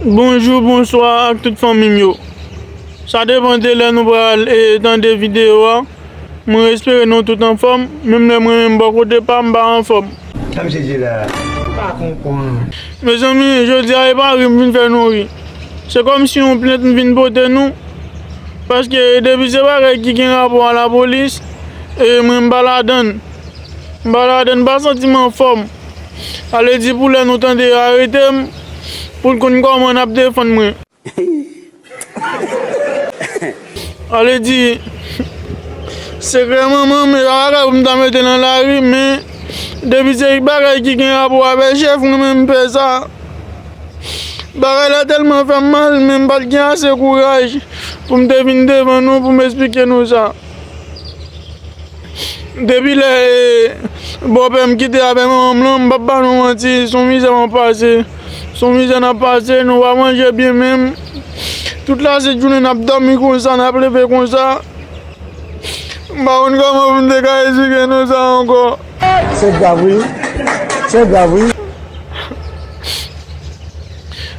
Bonjou bonswa ak tout fanmim yo sa depan de lè nou pral tande video a mwen espere nou tout anfòm menm lè mwen menm bò kote pam pa anfòm. Sa misye di la m pa konprann. Mezanmi jodia epa ri m vin fè nou ri se kòmsi yon plent m vin pote nou paske depi se bagay ki gen rapò a lapolis mwen m pa ladann m pa ladann m pa santim anfòm. Sa vle di pou lè nou tande yo arete m pou l konn kòman n ap defann mwen. Sa vle di sekrè manman m e pa bagay pou m ta mete nan lari men depi se bagay ki gen rapò avè chèf mwen men m fè sa. Bagay la tèlman fè m mal men m pa t gen ase kouraj pou m te vin devan nou pou m esplike nou sa. Depi lè bòpè m kite avèk manman m lan, m pap ba nou manti, s on mizè map pase, s on mizè nap pase, nou pa manje byen menm, tout lajounen nap dòmi konsa, nap leve konsa, m pa konn kòman pou m te ka esplike nou sa ankò. Se grav wi, se grav wi.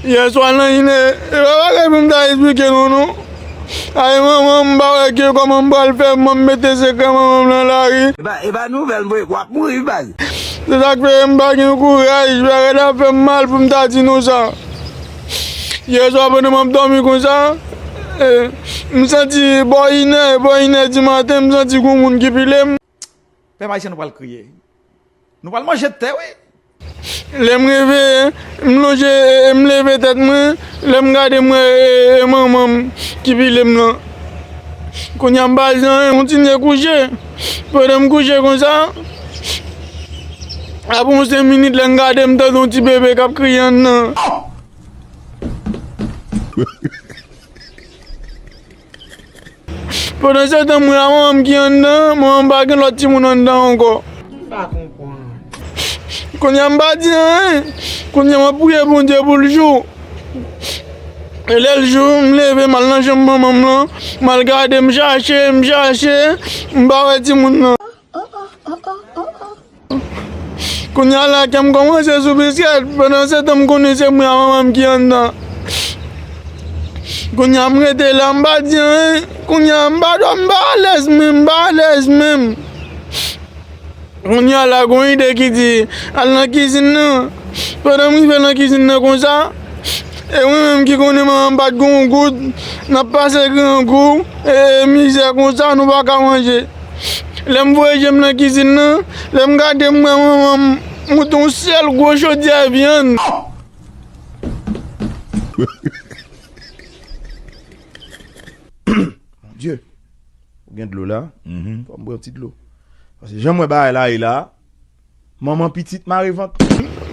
Yèswa nan inè, se pa bagay pou m ta esplike nou non. Ayy manman m pa wè ke koman m pral fè mwen mete sekrè manman m nan lari. Epa nouvèl mwe wap mouri wi baz. Se sak fè m pa gen kouraj bagay la ta fèm mal poum ta di nou sa yè swa pandan map dòmi konsa m santi bò inè bò inè di maten m santi gon moun ki pilem. Pèp Ayisyen nou pral kriye. Nou pral manje tè wi. Lèm reveye, m lonje e m leve tèt mwen, lèm gade m wè e manmanm ki pilem lan. Kounya m pa jan e m kontinye kouche. Pandan m kouche konsa, apre yon 5 minit lèm gade m tande yon ti bebe kap kriye anndan. Pandan se tan mwen a manman m ki anndan, manman m pa gen lòt timoun anndan ankò. M pa konprann. Kounye a m pa di anyen. Kounye a m ap priye Bondye pou l jou. E lè l jou, m leve m al nan chanm manman m lan, m al gade, m chache, m chache, m pa wè timoun nan. Kounya la kèm kòmanse sou biskèt pandan se tan m konnen se mwen a manman m ki anndan Kounya m rete la m pa di anyen Kounya m pa dò m pa alèz menm m pa alèz menm Kounya la gen yon ide ki di al nan kizin nan Pandan m rive nan kizin nan konsa E mwen menm ki konnen manman m pa t gen yon goud n ap pase grangou e mizè konsa nou pa ka manje Lè m voye je m nan kizin nan, lè m gade m wè manman m moute yon sèl gwo chodyè vyann. Mon Dieu! Ou gen dlo la? Fò m bwè yon ti dlo. Pase jan m wè bagay la ye la. Manman pitit mare vant.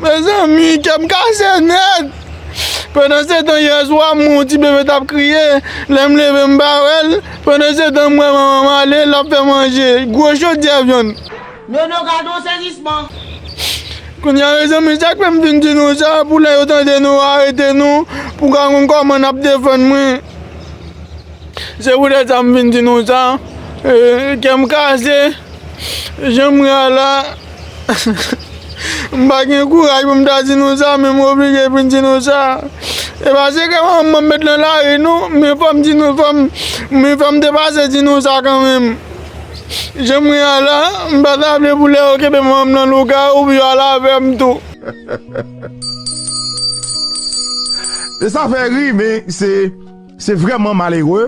Mezanmi kèm kase nèt Pandan se tan yè swa m wè yon ti bebe tap kriye Lè m leve m pa wèl Pandan se tan m wè manman m ale lap fè manje Gwo chodyè vyann Nono gadon sezisman. Kounya mezanmi sak fèm vin di nou sa pou lè yo tande nou yo arete nou pou ka konn kòman nap defann mwen Se pou tèt sa m vin di nou sa Kèm kase. Janm ra la M pa gen kouraj pou m ta di nou sa men m oblije pou m di nou sa E pa se ke manman m met nan lari non men fò m di nou fò m men fò m te pase di nou sa kanmenm Janm ra la m pa ta vle pou lè yo kenbe manman m nan lougawou pou yo al avè m tou Sa fè ri men se vrèman malere.